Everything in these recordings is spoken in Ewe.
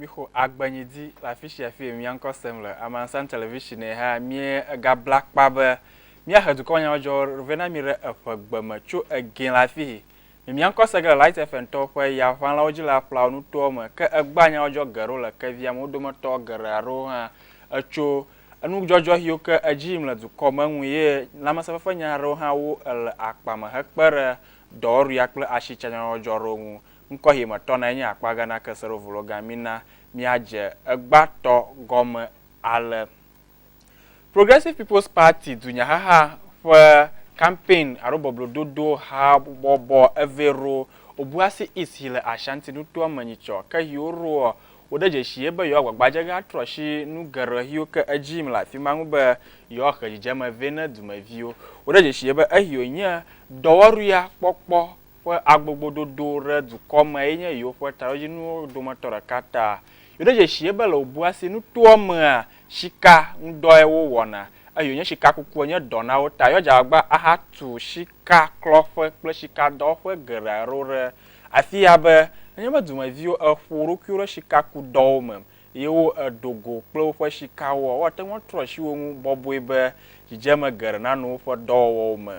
mixo agbenyi di le afi sia afi mia ŋkɔ sem le amansan television ha mie ega bla kpa be mia he dukɔ nya ɔdzɔ vena mi re eƒe gbe me tso egin le afi hi Mimia ŋkɔ se ge le Light FM tɔwo ƒe yaʋãlawo dzi le aƒlawo nutoawo me, ke egbea nyawo dzɔ geɖe wo le kevia me. Wo dometɔ geɖe aɖewo hã etso enudzɔdzɔɣiwo ke edzi yim le dukɔ me ŋu ye lãmesẽfefenya aɖewo hã wu ele akpa me hekpe ɖe dɔwɔɖuia kple asitsanyɔdzɔdzɔ aɖewo ŋu. Ŋkɔɣi me tɔnae nye akpa Ghana Keseɖovulogan. Mina míadze egbea tɔ gɔme ale. Progressive People's Party dunyahaha ƒe kampɛn alo bɔblɔdodo habɔbɔ evee ro Obuasi East yi le Ashanti nutoa me nyitsɔ ke hiwo roɔ wo ɖe dzeshie be yewoagbagba dze ge atrɔ shi nu geɖe hiwo ke edzi yim le afi ma ŋu be yewoahe dzidzeme vɛ ne dumeviwo. Wo ɖe dzeshie be ehio nye dɔwɔruia kpɔkpɔ ƒe agbogbododo ɖe dukɔ me ye nye yewoƒe taɖodzinuwo dometɔ ɖeka ta. Yo ɖe dzeshie be le Obuasi nutoa mea Shika ŋudɔe wo wɔna, eyi wonye shika kukua nye dɔ na wo ta. Yɔdza wagba aha tu shika klɔƒe kple shika dɔwɔƒe geɖe aɖewo ɖe afia be, nenye be dumeviwo eƒo wo ɖokuiwo ɖe shika ku dɔwo me ye wo eɖo go kple woƒe shikawoa, wo ate ŋu atrɔ asi wo ŋu bɔbɔe be dzidzeme geɖe nano woƒe dɔwɔwɔwo me.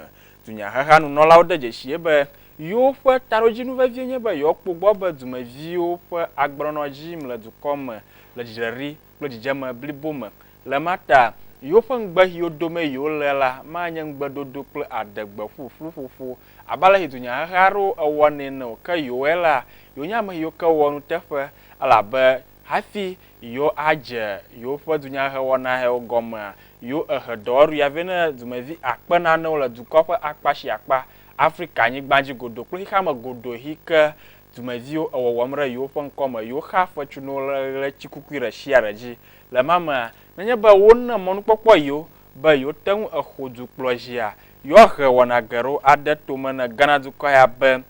Dunyaheha nunɔlawo de dzeshie be, yewo ƒe taɖodzinu vevie nye be yewoakpɔ gbɔ be dumeviwo ƒe agbenɔnɔ dzi yim le dukɔ me le dzidzedri kple dzidzeme blibo me. Le ema ta, yewoƒe ŋugbe xiwo domee yewolea la manye ŋugbedodo kple adegbe ƒuƒlu ƒoƒo abe ale si dunyaheha aɖewo ewɔnɛ ene o, ke yewɔe la, yewonye ame siwo ke wɔa nuteƒe, elabe hafi yewoadze yewoƒe dunyahehewɔna hewo gɔmea, yewoehe dɔwɔɖuɣia vɛ na dumevi akpe nanewo le dukɔa ƒe akpa sia akpa, Afrika-nyigba dzi godoo kple xexeame godoexi ke dumeviwo ewɔwɔm ɖe yewo ƒe ŋkɔ me, yewo xaa fetsu na wo le ɣletikukui ɖe sia ɖe dzi. Le ema mea, nenye be wona mɔnukpɔkpɔ yewo be yewote ŋu axo dukplɔ dzia, yewoahe wɔna geɖewo ade to me ne Ghana dukɔ ya be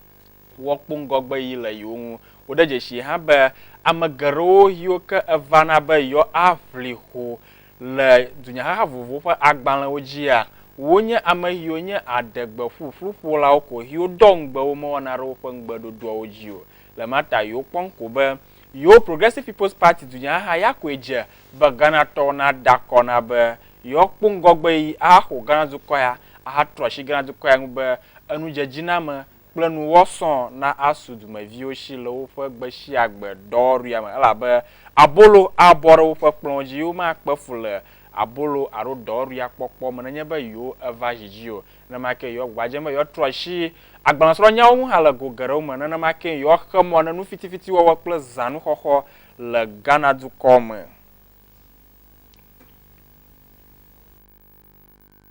woakpɔ ŋgɔgbeɣi le yewo ŋu. Wode dzesii hã be ame geɖewo yiwo ke evana be yewoaʋli ho Le dunyaxaxa vovovowo ƒe agbalẽwo dzia, wonye ame xiwo nye aɖegbeƒuƒluƒolawo ko xiwo ɖɔ ŋugbe wo mewɔna ɖe woƒe ŋugbeɖoɖoawo dzi o. Le ma ta yi wokpɔm ko be yewo Progressive People's Party dunyaxaxa ya koe dze be Ghanatɔwo nada akɔ na be yewoakpɔ ŋgɔgbeɣi ahaxo Ghana dukɔ ya ahatrɔ asi Ghana dukɔ ya ŋu be enudzedziname kple nuwɔ sɔ̃ na asu dumeviwo si le woƒe gbesiagbe dɔwɔɖuia me, elabe abolo abɔ ɖe woƒe kplɔ̃wo dzi, ye womakpe fu le abolo alo dɔwɔɖuia kpɔkpɔ me nenye be yewo eva zi dzi o. Nenema kee yewoa gbagba dzem be yewoatrɔ asi agbalẽsrɔ̃nyawo ŋu hã le go geɖewo me. Nenema kee yewoaxe mɔ ne nufitifiti wɔwɔ kple zãnuxɔxɔ le Ghana dukɔ me.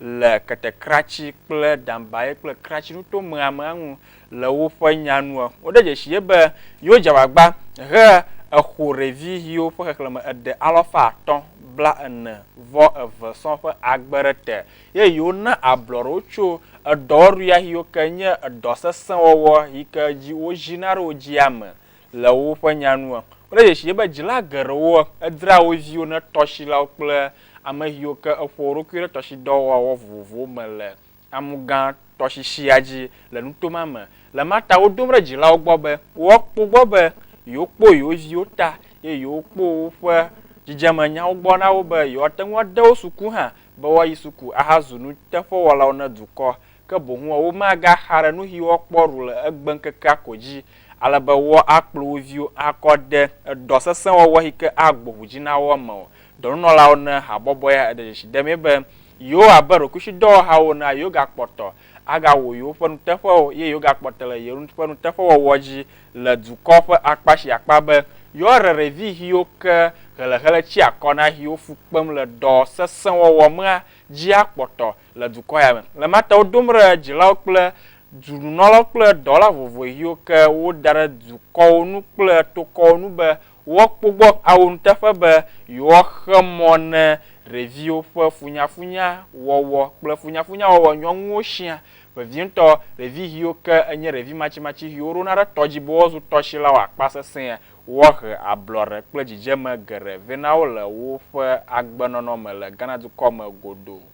le ketekratsi kple dambaye kple kratsi nuto meamea ŋu le woƒe nya nua. Woɖe dzesi ye be yewo dze agbagba he exo ɖevi yiwo ƒe xexlẽme eɖe alɔfa atɔ̃ bla ene vɔ eve sɔ̃ ƒe agbe ɖe te ye yewo na ablɔɖewo tso edɔwɔɖuya yiwo ke nye edɔ sesẽ wɔwɔ yike dzi wo ʒina ɖe wo djia me. le woƒe nya nu kple dzesi ye be dzila geɖewo draa wo viwo ne tɔsilawo kple amexiwo ke eƒo wo ɖokui ɖe tɔsidɔwɔwɔ vovovowo me le Amugã tɔsisia dzi le nuto ma me. Le ma ta wodom ɖe dzilawo gbɔ be woakpɔ gbɔ be yewokpɔ yewo viwo ta eye yewokpɔ woƒe dzidzemenyawo gbɔ na wo be yewoate ŋu ade wo suku hã be woayi suku ahazu nuteƒewɔlawo ne dukɔ ke boŋ woa womagaxa ɖe nuxi woakpɔ ɖu le egbeŋkekea ko dzi, ale be woakplɔ wo viwo akɔ ɖe edɔ sesẽ wɔwɔ si ke agbo ʋu dzi na woa me o. Dɔnunɔlawo ne habɔbɔ ya eɖe dzesi ɖemee be yewo abe ɖokuisidɔwɔhawo ene la, yewogakpɔtɔ agawɔ yewoƒe nuteƒewo ye yewogakpɔtɔ le yewo ƒe nuteƒewɔwɔ dzi le dukɔ ƒe akpa sia akpa be yewoaɖe ɖevi xiwo ke ɣeleɣele tsia akɔ na xiwo fu kpem le dɔ sesẽ wɔwɔ mea dzi akpɔtɔ le dukɔ ya me. Le ma ta wo dom ɖe dzilawo kple dzu-nunɔlawo kple dɔwɔla vovovo ɣiwo ke wo da ɖe dukɔwo nu kple tokɔwo nu be woa kpo gbɔ awo nuteƒe be yewoa xe mɔ ne ɖeviwo ƒe funyafunya wɔwɔ kple funyafunya wɔwɔ nyɔŋuwo shia. Vevientɔ, ɖevi ɣiwo ke enye ɖevi matsimatsi ɣiwo ɖona ɖe tɔ dzi be woa zu tɔshilawo akpa sesẽa, woa he ablɔɖe kple dzidzeme geɖe vɛ na wo le woƒe agbe nɔnɔ me le Ghana dukɔ me godoo.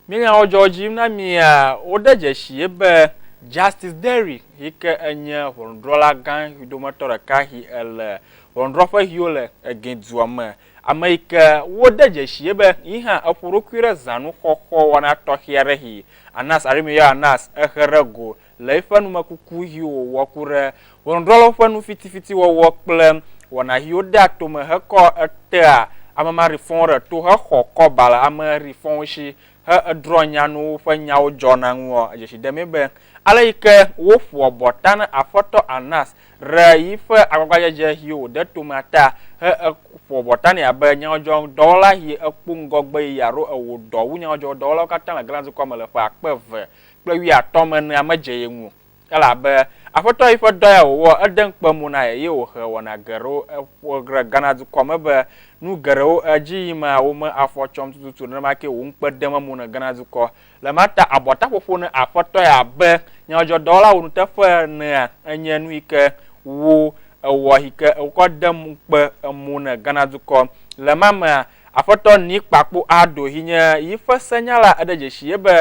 Nye nyawo dzɔ edzi yim na mia? Wode dzesii be Justice Derrick, yi ke enye ʋɔnudrɔla gã ʋi dometɔ ɖeka yi ele ʋɔnudrɔƒe yi wole Egin dua me, ame yi ke wode dzesii be yi hã eƒo eɖokui ɖe zanuxɔxɔ wɔna tɔxɛ aɖe yi Anas Arimuyɔ Anas ehe ɖe go le eƒe numekuku ʋiwo wòwɔ ku ɖe ʋɔnudrɔ̃lawo ƒe nu fitifiti wɔwɔ kple wɔna ʋiwo dea tome hekɔ etea ame maɖi fɔwo ɖe to hexɔ kɔba le ame ɖi fɔwo si he edrɔ̃ nyanuwo ƒe nyawo dzɔna ŋuɔ edzesi demee be ale yi ke wo ƒoa bɔ ta ne Aƒetɔ Annas ɖe yiƒe agbagbadzedze ʋiwo wòde tomea ta he eƒoa bɔ ta nɛ abe nyadzɔdzɔdɔwɔla ʋi ekpo ŋgɔgbe yi aɖo ewɔ dɔ wu nyadzɔdzɔdɔwɔlawo katã le Galaad dukɔa me le ƒe akpe eve kple wuiatɔ̃ me nea medze ye ŋu o. Elabe Aƒetɔ yi ƒe dɔ ya wòwɔ, ede ŋukpe mo na ye, eye wòhe wɔna geɖewo. Eƒo ɖe Ghana dukɔ me be nu geɖewo edzi yim mea, wome afɔ tsɔm tututu nenema kee wò ŋukpe dem emo ne Ghana dukɔ. Le ma ta abɔtaƒoƒo ne Aƒetɔ ya abe nyadzɔdzɔdɔwɔlawo nuteƒe enea, enye nu yi ke wo ewɔ yi ke wokɔ dem ŋukpe emo ne Ghana dukɔ. Le ma mea, Afetɔ Nick Kpakpo aɖo hi nye yiƒe senyala eɖe dzeshi ye be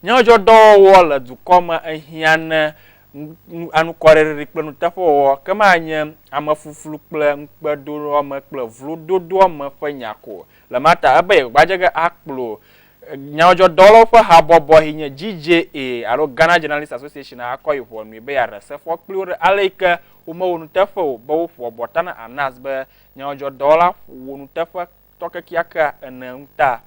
nyɔdzɔ dɔwɔwɔ le dukɔ me ehiã ne nu anukɔreɖeɖi kple nuteƒewɔwɔ ke ma nye ame fluflu kple ŋukpedoame kple vlo dodoɔ me ƒe nya ko o. Le ma ta ebe yegbadzege akplo nyɔdzɔ dɔwɔlawo ƒe habɔbɔ hi nye GJA alo Ghana Journalist Association a akɔ yi ʋɔnui be yeaɖe sefɔ kpli wo ɖe ale yike wo mewɔ nuteƒe o be wo ƒoa bɔta na Anas be nyadzɔdzɔdɔwɔla ƒo nuteƒetɔ kekeakea ene ŋu ta.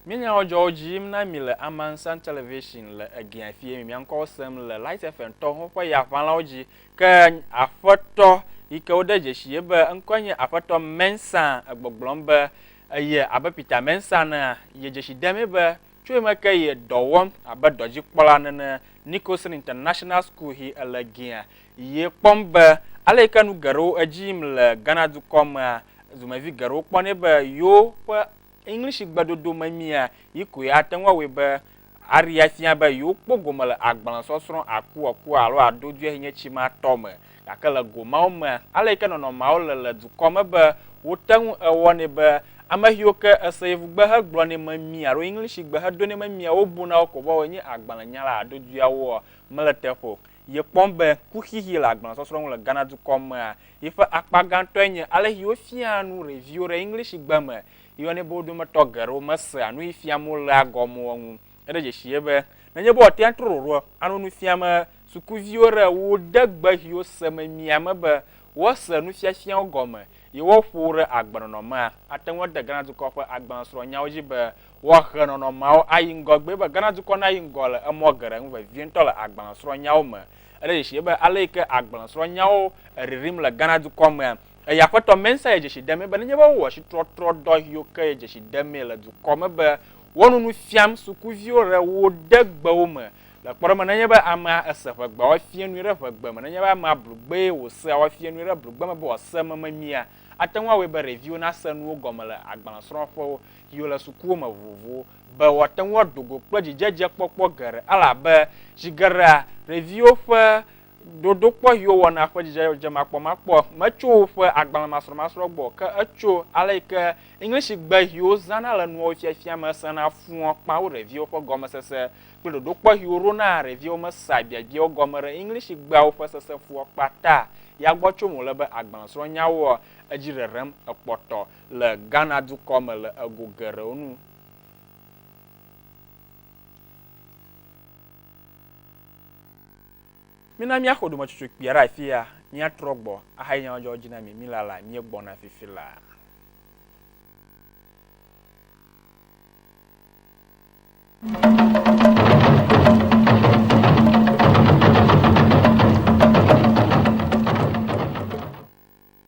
Mía nyadzɔdzɔwo dzi yim na mi le Amansan Television le Egea fie mi. Mia ŋkɔwo sem le Light FM tɔ ho ƒe ya ʋãlawo dzi. Ke Aƒetɔ yi ke wode dzesi ye be eŋkɔe nye Aƒetɔ Mensah egbɔgblɔm be eye abe Peter Mensah nea, ye dzesi demee be Tso eme ke yi dɔ wɔm abe dɔdzikpɔla nene Nicholson International School hi ele gea, yi kpɔm be ale yi ke nu geɖewo edzi yim le Ghana dukɔ mea, dumevi geɖewo kpɔnɛ be yewo ƒe English gbedodo memia yi koe ate ŋu awɔe be aɖi afia be yewo kpɔ gome le agbalẽ sɔsrɔ̃ akuɔkua alo aɖo duiehɛnyetsi ma tɔ me. Gake le go mawo me, ale yi ke nɔnɔmeawo le le dukɔ me be wote ŋu ewɔnɛ be ame xiwo ke ese yevugbe hegblɔnɛ memie alo Englishigbe hedonɛ memie wobuna wo ko be woawoe nye agbalẽnyala hadodoeawoa, mele teƒe o. Yekpɔm be kuxixe le agbalẽsɔsrɔ̃ ŋu le Ghana dukɔ mea, yiƒe akpa gãtɔe nye alesi wofiaa nu ɖeviwo ɖe Englishigbe me. Yeyɔnɛ be wo dometɔ geɖewo mesea nuyi fiam wolea gɔme o ŋu. Eɖe dzesi ye be nenye be wòate ŋu atrɔ ɖoɖoa alo nu fiam sukuviwo ɖe wo de gbe siwo se memia me be woase nufiafiawo gɔme ye woaƒo wo ɖe agbenɔnɔ mea, ate ŋu ade Ghana dukɔ ƒe agbalẽsrɔ̃nyawo dzi be woahe nɔnɔmeawo ayi ŋgɔgbee be Ghana dukɔ nayi ŋgɔ le emɔ geɖe ŋu vevie ŋutɔ le agbalẽsrɔ̃nyawo me. Eɖe dzesi ye be ale yi ke agbalẽsrɔ̃nyawo ririm le Ghana dukɔ mea, Eye Aƒetɔ Mensah ye dzesi demee be nenye be wowɔ tsitrɔtrɔdɔ ʋiwo ke ye dzesi demee le dukɔ me be wonu nu fiam sukuviwo re wo ɖe gbewo me le kpɔɖeme nenye be amea ese ʋegbe woae fie nui ɖe ʋegbe me nenye be amea blu gbee wosea woae fie nui ɖe blugbe me be wòase me memia ate ŋu awɔe be ɖeviwo nase nuwo gɔme le agbalẽsrɔ̃ƒewo ʋiwo le sukuwo me vovovowo be woate ŋu ado go kple dzidzedzekpɔkpɔ geɖe elabe zi geɖea ɖeviwo ƒe Dodokpɔ yi wowɔna ƒe dzidzemakpɔmakpɔ metso woƒe agbalẽmasrɔ̃masrɔ̃ gbɔ o, ke etso ale yi ke Englishigbe yi wozãna le nuwo fiafia me sena fuɔ kpã wo ɖeviwo ƒe gɔmesese kple ɖoɖokpɔ yi woɖona ɖeviwo me sea biabiawo gɔme ɖe Englishigbeawo ƒe sese fuɔ kpã ta ya gbɔ tsom wòle be agbalẽsrɔ̃nyawoa edzi ɖeɖem ekpɔtɔ le Ghana dukɔ me le ego geɖewo nu. Mina míaxɔ ɖometsotso kpuia ɖe afi ya, míatrɔ gbɔ ahayi nya ma dzɔ dzi na mi, mila la, míegbɔna fifi la.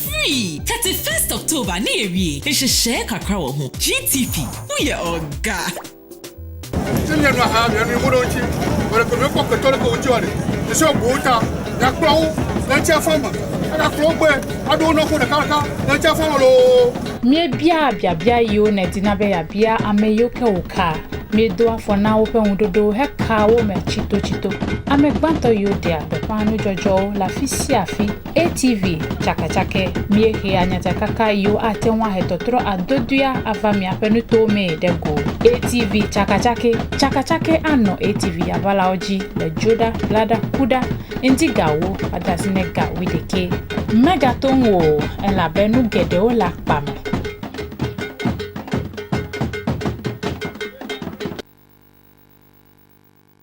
Free! Tete first October ne yewie esheshe kakra wɔ ho. GTP, wo ye ɔga. Ti nye nɔ ha mia mi ŋuɖo ŋuti. Wòle ko mi kpɔ kpetɔ le ko ŋuti wɔ ɖe. Esi wɔ bowo ta. Ya kplɔ wo le ŋuti afɔ me. Aka kplɔ wo gbe. Aɖo wo nɔfo ɖeka ɖeka le ŋuti afɔ me loo. Míebiaa biabia yiwo nèdina be yeabia ame yiwo ke wòkaa. Míedo afɔ na woƒe ŋuɖoɖowo hekaa wo me tsitotsito. Ame gbãtɔ yiwo ɖea gbeƒã nudzɔdzɔwo le afi sia afi ATV tsakatsakɛ. Míehea nyatakaka yiwo ate ŋu ahe tɔtrɔ adodoea ava miaƒe nutowo mee ɖe go. ATV tsakatsakɛ. Tsakatsakɛ anɔ ATV avalawo dzi le dzoɖa, laɖa, kuɖa, ŋdzigawo, ade asi ne ga wuiɖekɛ. Megato ŋu o, elabe nu geɖewo le akpa me.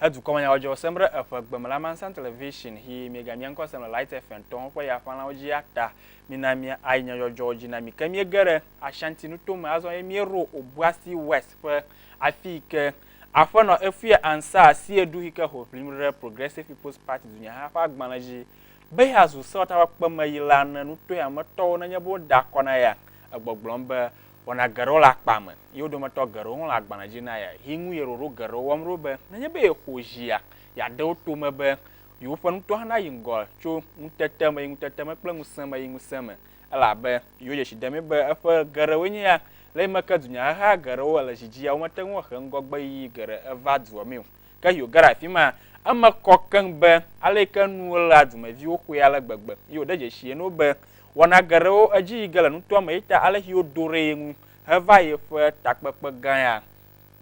He dukɔmenyawɔdzɔ sem ɖe eƒe gbe me le Amansan Television hi miegamiã ŋkɔ sem le Light FM tɔ ho ƒe ya ƒãlawo dzi ya ta. Mina mia ayi nyɔdzɔdzɔwo dzi na mi. Ke miege ɖe Ashanti nuto me azɔ ye mieɖo Obuasi West ƒe afi yi ke Aƒenɔ Efue Ansah si ye ɖu hi ke ho ʋlim ɖe Progressive People's Party dunyaha ƒe agbalẽ dzi be yeazu sewɔtakpekpe me yi la ne nutoea me tɔwo nenye be woda akɔ na ya egbɔgblɔm be Wɔna geɖewo le akpa me, ye wo dometɔ geɖewo hã le agbalẽ dzi na ye. Yi ŋu ye ɖoɖo geɖewo wɔm ɖo be nenye be yexo zia, yeade wo to me be yewoƒe nutoa hã nayi ŋgɔ tso ŋutete me yi ŋutete me kple ŋusẽ me yi ŋusẽ me, elabe yewo dzesi demee be eƒe geɖewoe nye ya. Le yi me ke dunyahehea geɖewo le edzi dzia, womete ŋu ahe ŋgɔgbeyiyi geɖe eva dua mee o. Ke Yo ge ɖe afi maa, eme kɔ keŋ be aleke nuwo léa dumeviwo xoe ale gbegbe. Yo ɖe dzesii na wo be wɔna geɖewo edzi yi ge le nutoa me eyi ta alesi wodo ɖe ye ŋu heva yeƒe takpekpe gã ya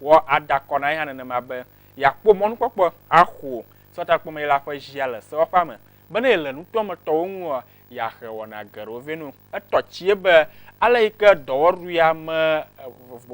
wɔ ada akɔ na ye hã nenema be yeakpɔ mɔnukpɔkpɔ axo setakpɔmei la ƒe zia le sewoƒea me. Be ne yele nutoa me tɔwo ŋua, yeaxe wɔna geɖewo vɛ no. Etɔ tsie be ale yi ke dɔwɔɖuia me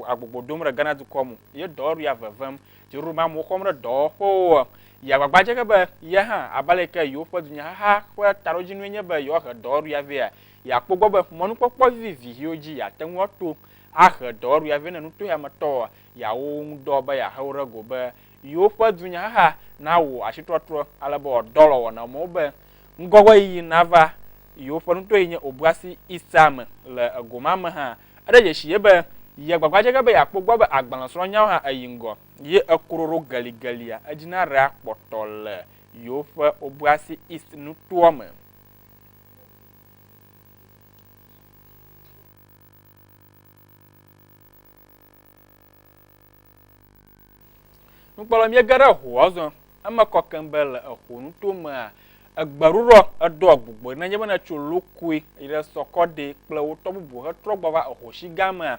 agbogbo dom ɖe Ghana dukɔ mu ye dɔwɔɖuia vevem Jerome amewo xɔm ɖe dɔwɔƒewo. Yeagbagba dze ge be ye hã, abe ale yi ke yewoƒe dunyaxaxa ƒe taɖodzinue nye be yewoahe dɔwɔɖuya vɛa, yeakpɔ egbɔ be mɔnukpɔkpɔ vivivi ʋiwo dzi yeate ŋu ato ahe dɔwɔɖuya vɛ ne nutoheametɔwo yeawo wo ŋu dɔ be yeahe wo ɖe go be yewoƒe dunyaxaxa nawɔ asitrɔtrɔ ale be wòadɔ alɔ wɔ na wo mɔwo be ŋgɔgbeɣeyiɣi nava yewoƒe nutoɣi nye Obuasi East a me le egomame hã Eɖe dzesi ye be yeagbagba dze ge be yeakpɔ egbɔ be agbalẽsrɔ̃nyawo hã yi ŋgɔ, ye ekroro geligelia edzi na Rhea kpɔtɔ le yewoƒe Obuasi East nutoa me. Nukpɔla míege ɖe ehoa zɔ. Eme kɔ keŋ be le eho nuto mea, egbeɖuɖɔ eɖoa gbogboe nenye be netso lokui yi ɖe sɔkɔɖi kple wo tɔ bubu hetrɔ gbɔ va ehoshi gã mea.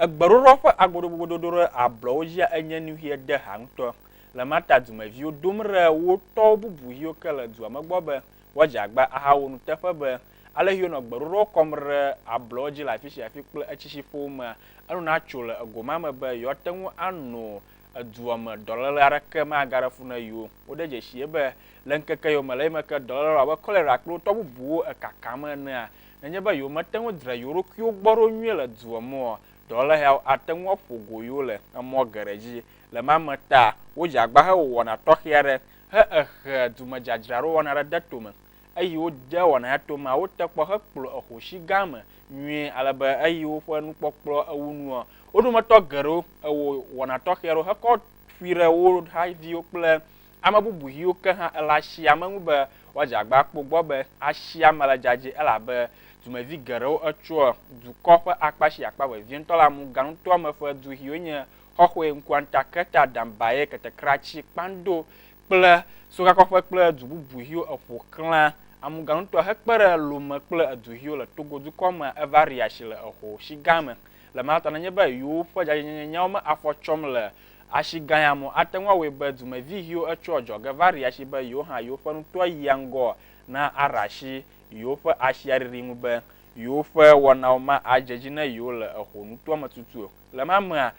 Egbeɖuɖɔ ƒe agodogododo ɖe ablɔwo dzia enye nu ʋie deha ŋutɔ. Le Marta dumeviwo dom ɖe wo tɔ bubu yiwo ke le dua me gbɔ be, Woadze agba ahawɔ nuteƒe be, Ale Hiob nɔ gbeɖoɖowo kɔm ɖe ablɔwo dzi le afi sia afi kple etsitsiƒowo mea, enu natso le ego ma me be yewoate ŋu ano edua me dɔléle aɖeke magaɖe fu na yewo. Wode dzesii be, Le ŋkeke yiwo me le eyome ke dɔléle abe kɔlera kple wo tɔ bubuwo ekakam enea, nenye be yewomete ŋu dra yewo ɖokuiwo gbɔ ɖo nyuie le dua me oa, dɔléle yawo ate ŋu aƒo go yewo le emɔ geɖe dzi. Le ema me ta, wodzea agba hewɔ wɔna tɔxɛ aɖe. he exe dumedzadzraɖo wɔna ɖe de tome, eyi wo de wɔna ya to mawo te kpɔ he kplɔ exo shi gã me nyuie ale be eyi woƒe nukpɔkplɔ ewu nua wo dometɔ geɖewo ewɔ wɔna tɔxɛ ɖo hekɔ ƒui ɖe wo ha viwo kple ame bubu hiwo ke hã ele ashia me ŋu be woadze agba akpɔ gbɔ be ashia me le dzadzɛ elabe dumevi geɖewo etsoa dukɔ ƒe akpa shi akpa vevientɔ la mu ganutoa me ƒe du hiwo nye xɔxɔe ŋkuanta keta dambaye ketekratsi kpando kple sokakɔƒe kple du bubu ʋiwo eƒo xlã amuganutoa hekpe ɖe Lome kple edu ʋiwo le Togo dukɔ me Evaria si le eho shi gã me le ma ta nenye be yowo ƒe dzadzɛnyenye nyawo me afɔ tsɔm le ashi gã ya mo ate ŋu awɔe be dumevi ʋiwo etsɔa dzɔge va ria shi be yowo hã yowo ƒe nutoa yia ŋgɔ na ara shi yowo ƒe ashia riri ŋu be yowo ƒe wɔnawo ma adze dzi ne yowo le eho nutoa me tutuo. Le ma mea,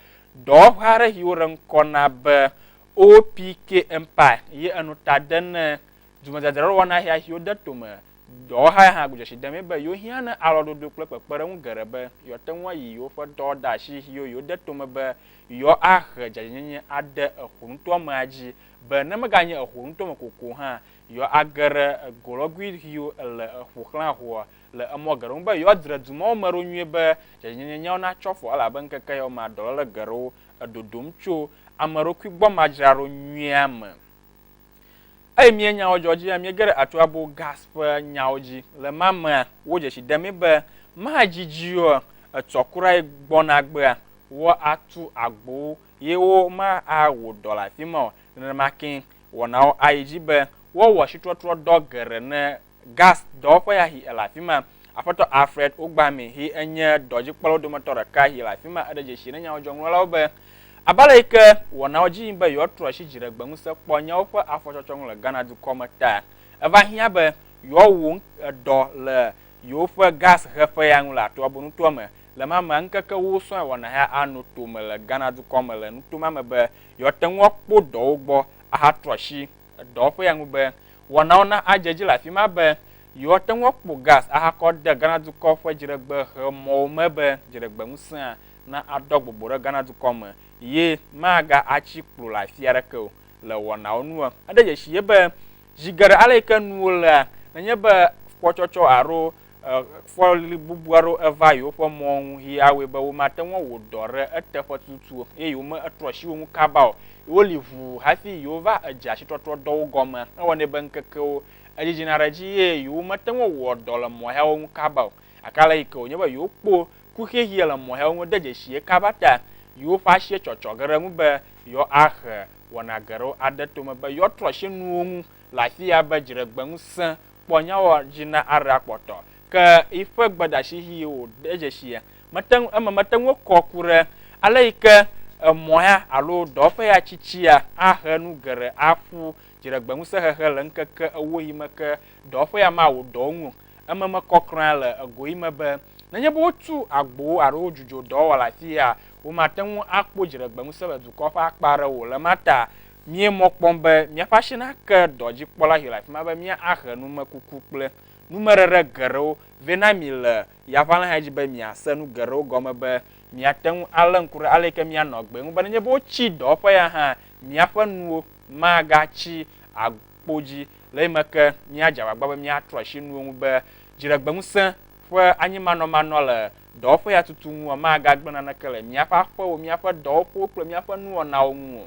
dɔwɔƒe aɖe yi woɖe ŋkɔ na be OPK Empire yi enu ta de ne dumedzadzraɖowɔna hea yi wode tome. Dɔwɔha ya hã gbe dzesi demee be yewohiã ne alɔdodo kple kpekpeɖeŋu geɖe be yewoate ŋu ayi yewoƒe dɔwɔɖeasi yiwo yewode tome be yewoahe dzadzɛnyenye ade ehonutoamea dzi be ne meganye ehonutoame ko ko hã, yewoage ɖe golɔgui yiwo le eƒoxlã ŋua. le emɔ geɖewo ŋu be yewoadzre du mawo me ɖo nyuie be dzadzɛnyenyewo natso afɔ, elabe ŋkeke yawo mea dɔléle geɖewo edodomn tso ameɖokuigbɔmadzraɖo nyuia me. Eyi mía nyawo dzɔ dzi ya míege ɖe Arthur Abbo Gass ƒe nyawo dzi. Le ma mea, wodze tsi demee be madzi dzi o etsɔ kura yi gbɔna egbea, woatu agbowo ye womawɔ dɔ le afi ma o. Nenema kee wɔnawo ayi dzi be woawɔ ashitrɔtrɔdɔ geɖe ne Gas dɔwɔƒe ya hi ele afi ma. Aƒetɔ Alfred Ugbami hi enye dɔdzikpɔlawo dometɔ ɖeka hi le afi ma. Eɖe dzesi ne nyawɔdzɔŋlɔlawo be, abe ale yi ke wɔnawo dzi yim be yewoatrɔ asi dziɖegbeŋusẽ kpɔ nyawo ƒe afɔtsɔtsɔ ŋu le Ghana dukɔ me ta, eva hiã be yewoawu dɔ le yewoƒe gas heƒea ŋu le Atoabo nutoa me. Le mamea ŋkeke wosɔe wɔna hea ano tome le Ghana dukɔ me le nuto ma me be yewoate ŋu akpɔ dɔwo gbɔ ahatrɔ asi. dɔwɔƒea ŋu be wɔnawo na adze edzi le afi ma be yewoate ŋu akpɔ gas ahakɔ de Ghana dukɔ ƒe dziɖegbehemɔ̃wo me be dziɖegbeŋusẽa naɖɔ gbogbo ɖe Ghana dukɔ me ye magatsi kplu le afi aɖeke o le wɔnawo nu. Eɖe dzesi ye be zi geɖe ale yi ke nuwo lea, nenye be kpɔtsɔtsɔ alo fɔlibubu aɖewo eva yewoƒe mɔ ŋu yi awɔe be womate ŋu awɔ dɔ ɖe eteƒe tututu o eye yewometrɔ asi wo ŋu kaba o. Woli ʋuu hafi yewova edze asitɔtrɔdɔwo gɔme hewɔnɛ be ŋkekewo edzidzina ɖe edzi eye yewomete ŋu awɔ dɔ le mɔ yawo ŋu kaba o. Gake ale yi ke wònye be yewokpɔ kuxexeɛ le mɔ yawo ŋu de dzesi ye kaba ta, yewoƒe asi etsɔtsɔ ge ɖe eŋu be yewoahe wɔna geɖewo ade tome be yewoatrɔ asi nuwo ŋu le afia be dziɖegbeŋusẽ kpɔ nyawɔ dzi na aɖa kpɔtɔ. Ke yiƒe gbedeasi hi yi wo de dzeshie mete ŋu eme mete ŋu kɔ ku ɖe ale yi ke emɔ ya alo dɔwɔƒe ya tsitsia ahe nu geɖe aƒu dziɖegbeŋusẽ hehe le ŋkeke ewo yi me ke dɔwɔƒe ya mawɔ dɔ wo ŋu o. Eme mekɔ kura le ego yi me be nenye be wotu agbowo alo wodzudzo dɔwɔwɔ le afii ya, womate ŋu akpɔ dziɖegbeŋusẽ le dukɔa ƒe akpa aɖe o. Le ma ta, Míe mɔ kpɔm be míaƒe asi nake dɔdzikpɔla siwo le afi ma be míahe numekuku kple numeɖeɖe geɖewo vɛ na mi le yaʋalẽxea dzi be miase nu geɖewo gɔme be miate ŋu alé ŋku ɖe ale yi ke mianɔ agbee ŋu be nenye be wotsi dɔ ƒe ya hã míaƒe nuwo magatsi agbo dzi le eyime ke míadze agbagba be míatrɔ asi nuwo ŋu be dziɖegbeŋusẽ ƒe anyimanɔmanɔ le dɔwɔƒe ya tutu ŋua magagblẽ naneke le míaƒe aƒewo, míaƒe dɔwɔƒewo kple míaƒe nuwɔnawo ŋu o.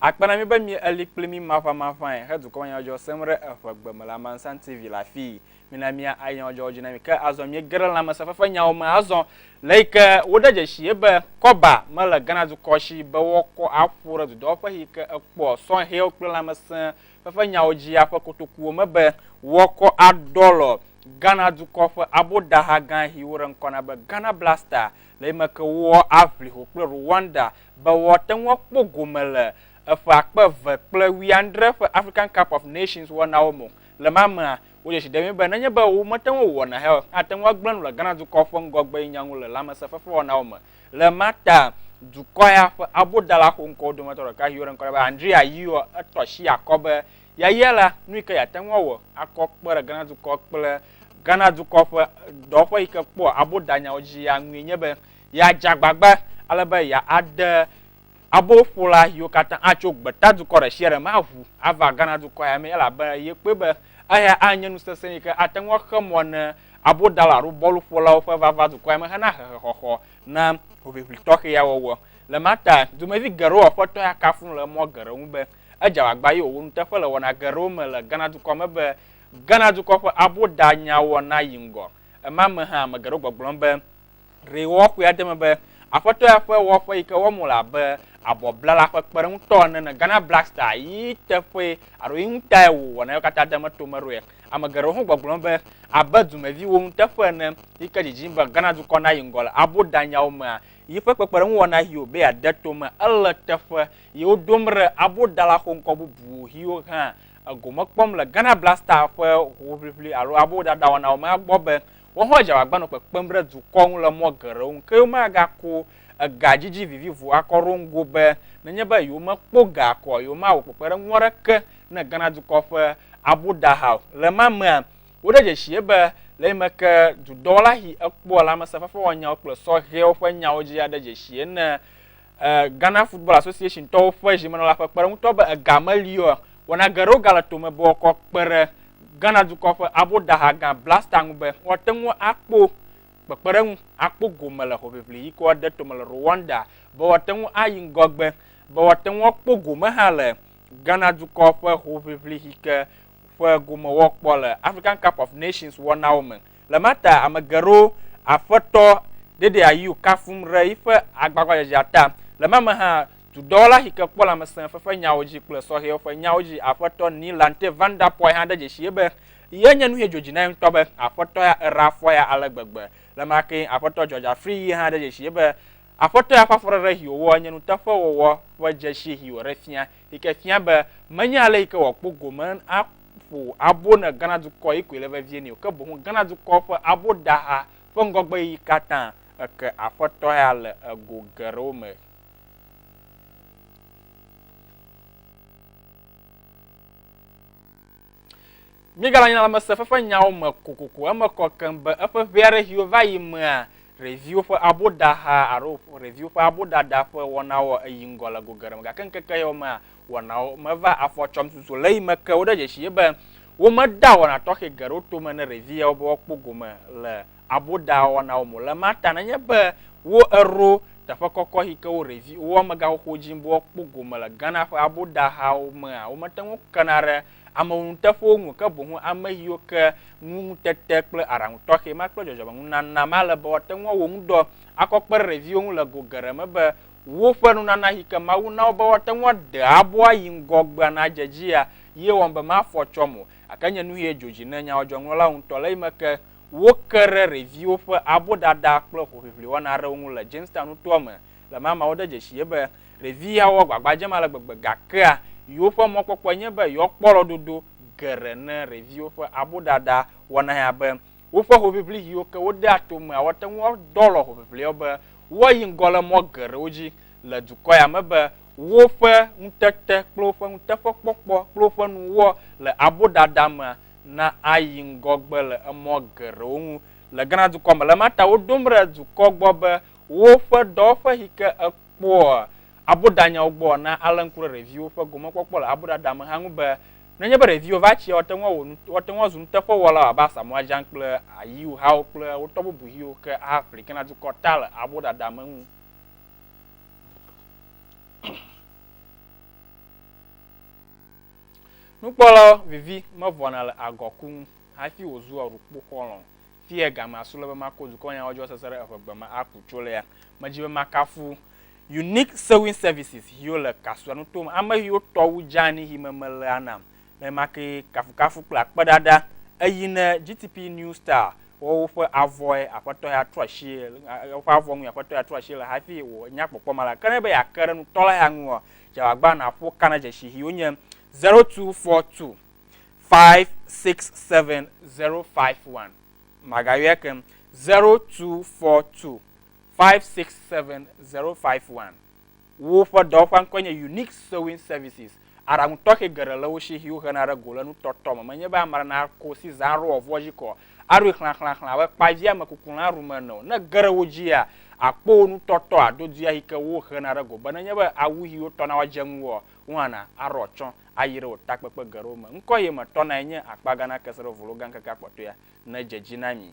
Akpe na mí be mí eli kpli mí maƒamaƒãe he dukɔ nyadzɔdzɔ sem ɖe eƒe gbe me le Amansan TV le afii. Mina mía ayi nyadzɔdzɔwo dzi na mí. Ke azɔ mí ge ɖe lãmesẽ fefe nyawo me azɔ le yi ke wo ɖe dzeshie be kɔba me le Ghana dukɔ shi be wo kɔ a ƒo ɖe dudɔwo ƒe yi ke ekpɔ sɔhɛwo kple lãmesẽ fefe nyawo dzia ƒe kotokuwo me be wo kɔ a ɖɔlɔ Ghana dukɔ ƒe abo ɖaha gã yi wo ɖe ŋkɔ na be Ghana Blaster le yi me ke wo a ʋli ho kple Rwanda be woate ŋu akpɔ gome le eƒe akpe eve kple wuiadre ƒe African Cup of Nations wɔnawo me o. Le ema mea, wodze si ɖemee be nenye be womete ŋu awɔ nahee o, ate ŋu agblẽ nu le Ghana dukɔ ƒe ŋgɔgbenyigba ŋu le lãmesẽfefewɔnawo me. Le ema ta, dukɔ ya ƒe abodala xoŋkɔwo dometɔ ɖeka si woɖe ŋkɔ nɛ be Andrea Ayew tɔ asi akɔ be yayia la, nu yike yeate ŋu awɔ akɔ kpe ɖe Ghana dukɔ kple Ghana dukɔ ƒe dɔwɔƒe yike kpɔa abodanyawo dzia ŋui nye be Yeadze agbagba ale be yeaɖe aboƒola yiwo katã atso gbetadukɔ ɖe sia ɖe me aʋu ava Ghana dukɔ ya mee elabe yekpɔe be eya anye nu sesẽ yi ke ate ŋu axe mɔ ne abodala alo bɔluƒolawo ƒe vava dukɔ ya me hena hehexɔxɔ na hoʋiʋli tɔxɛ ya wɔwɔ. Le ema ta, dumevi geɖewo Aƒetɔ ya kafu nu le mɔ geɖe ŋu be edze agbagba eye wòwɔ nuteƒe le wɔna geɖewo me le Ghana dukɔ me be Ghana dukɔ ƒe abodanyawɔ nayi ŋgɔ. Ema me hã, ame geɖewo gbɔgblɔm be, Ɖe wɔxɔe ade eme be Aƒetɔ ya ƒe wɔƒe yi ke wɔm wole abe abɔblala ƒe kpeɖeŋutɔ ene ne Ghana Blackstars yi teƒee alo yi ŋutae wòwɔna yewo katã deme to eme ɖoa? Ame geɖewo hã gbɔgblɔ nu be abe dumeviwo nuteƒe ene yi ke dzidzim be Ghana dukɔ nayi ŋgɔ le abo danyawo mea, yiƒe kpekpeɖeŋuwɔna ʋiwo be yeade to eme ele teƒe yi woɖom ɖe abo dala xoŋkɔ bubuwo ʋiwo hã egome kpɔm le Ghana Blackstars ƒe hoʋiʋli alo abo dada wɔnawo mea gbɔ be Woawo hã dze agbagba nɔ kpekpem ɖe dukɔ ŋu le mɔ geɖewo nu, ke womagakɔ ega dzidzi vivivo akɔ ɖo ŋgo be nenye be yewomekpɔ ga kɔa, yewomawɔ kpekpeɖeŋu aɖeke ne Ghana dukɔ ƒe abudaha o. Le ma mea, woɖe dzesii be le yi me ke dudɔwɔla si ekpɔa lãmesẽfefewɔnyawo kple sɔhɛwo ƒe nyawo dzia, ɖe dzesii ne Ghana Football Association tɔwo ƒe zimenɔla ƒe kpeɖeŋutɔ be ega meli o. Wɔna geɖewo gale tome be woakɔ akpe ɖe Ghana dukɔ ƒe aboɖaha gã Blaster ŋu be woate ŋu akpɔ kpekpeɖeŋu, akpɔ gome le hoʋiʋli yi ke woade tome le Rwanda, be woate ŋu ayi ŋgɔgbe, be woate ŋu akpɔ gome hã le Ghana dukɔ ƒe hoʋiʋli yi ke ƒe gome woakpɔ le African Cup of Nations wɔnawo me. Le ma ta ame geɖewo Aƒetɔ Dedeayu kafum ɖe yiƒe agbagbadzedzea ta. Le ma me hã, tudɔwɔla si ke kpɔ lãmesẽ fefe nyawo dzi kple sɔhɛwo ƒe nyawo dzi Aƒetɔ Nilante Van Der Poel hã de dzesii be ye nye nusi dzo dzi na ye ŋutɔ be Aƒetɔ ya era afɔ ya ale gbegbe. Le ma kee Aƒetɔ George Afriyie yi hã de dzesii be Aƒetɔ ya ƒe afɔɖeɖe si wòwɔ nye nuteƒewɔwɔ ƒe dzesi si wòɖe fia. yi ke fia be menye ale yi ke wòakpɔ gome aƒo abo ne Ghana dukɔ yi koe le vevie nɛ o, ke boŋ Ghana dukɔ ƒe aboɖaha ƒe ŋgɔgbeɣeyiɣi katã eke Aƒetɔ ya le ego geɖewo me. Míegale anyi na lãmesẽ fefe nyawo me kokoko. Eme kɔ keŋ be eƒe ʋɛ aɖe siwo va yi mea, ɖeviwo ƒe aboɖaha alo ɖeviwo ƒe aboɖaɖa ƒe wɔnawo yi ŋgɔ le go geɖe me. Gake ŋkeke yawo mea, wɔnawo mevaa afɔ tsɔm susu o. Le eyime ke, woɖe dzesii be womedea wɔna tɔxɛ geɖewo tome ne ɖevi yawo be woakpɔ gome le abodawɔnawo mo le ma ta nenye be wo ero teƒe kɔkɔ hi ke wo revi wo amega xoxo dzi bo kpɔ gome le Ghana ƒe abodahawo mea, womete ŋu kena ɖe ameŋunuteƒewo ŋu ke boŋu ame hiwo ke nu ŋutete kple aɖaŋu tɔxɛ ma kple dzɔdzɔmenunana ma le be woate ŋu awɔ ŋu dɔ akɔ kpe ɖe reviwo ŋu le go geɖe me be woƒe nunana hi ke Mawu na wo be woate ŋu ade abo ayi ŋgɔgbea nadze edzia ye wɔm be mafɔ tsɔ mo gake nye nuhie dzo dzi ne nyawo dzɔŋlɔlawo ŋutɔ le yi me ke Woke ɖe ɖeviwo ƒe abo ɖaɖa kple hoʋiʋli wɔna aɖewo ŋu le Jamestown nutoa me le mama. Wode dzesi ye be ɖevi yawo agbagba dzem ale gbegbe gakea yewoƒe mɔkpɔkpɔe nye be yewoakpɔ lɔdodo geɖe ne ɖeviwo ƒe abo ɖaɖa wɔna ya be woƒe hoʋiʋli ʋiwo ke wodea to mea woate ŋu adɔ alɔ hoʋiʋliawo be woayi ŋgɔ le mɔ geɖewo dzi le dukɔ ya me be woƒe ŋutete kple woƒe nuteƒekpɔkpɔ kple woƒe nuwɔ le abo ɖaɖa mea na ayi ŋgɔgbe le emɔ geɖewo ŋu le Ghana dukɔ me. Le ma ta woɖom ɖe dukɔ gbɔ be woƒe dɔwɔƒe yi ke ekpɔa abodanyawo gbɔ na alé ŋku ɖe ɖeviwo ƒe gomekpɔkpɔ le aboɖaɖa me hã ŋu be nenye be ɖeviwo va tsia, woate ŋu awɔ nu, woate ŋu azu nuteƒewɔlawo abe Asamoah Gyan kple Ayew hawo kple wo tɔ bubu yiwo ke aƒli Ghana dukɔ ta le aboɖaɖa me ŋu. Nukpɔlawo vivi mevɔ̃na le agɔ ku ŋu hafi wòzua ɖukpo xɔlɔ̃. Fiye ga ma su le be mako dukɔnyawo dzi wɔsese ɖe eŋegbe ma aku tso lea medzi be makafu Unique Sewing Services xiwo le Kasua nuto me, ame xiwo tɔ wu dzeani xi me mele a nam le ma ke kafukafu kple akpedada eyi ne GTP New Style wɔ woƒe avɔe aƒetɔ ya trɔ asie woƒe avɔ ŋu aƒetɔ ya trɔ asie le hafi wò nya kpɔkpɔ ma la ke ne be yeake ɖe nutɔla ya ŋu ɔ Dzeagbã nàƒo ka na dzesihi wonye zero two four two five six seven zero five one. Magayɔe keŋ zero two four two five six seven zero five one. Woƒe dɔwɔƒea ŋkɔe nye Unique Sewing Services. Aɖaŋu tɔxɛ geɖe le wo si yi wohena ɖe go le nutɔtɔ me. Menye be ame aɖe nako si zã aɖo wòavua dzi ko o. aɖoe xlãxlãxlã abe kpavia me kukulã ɖum ene o. Ne ge ɖe wo dzia, àkpɔ wo nutɔtɔ aɖo dui ayi ke wohena ɖe go be nenye be awu ʋi wotɔna woadze ŋuwòa, wohana aɖɔ atsyɔ̃ ayi ɖe wò takpekpe geɖewo me. Ŋkɔ ye me tɔnae nye akpa gã nake se ɖe volo gã ŋkekea kpɔtɔea nedze edzi na mi.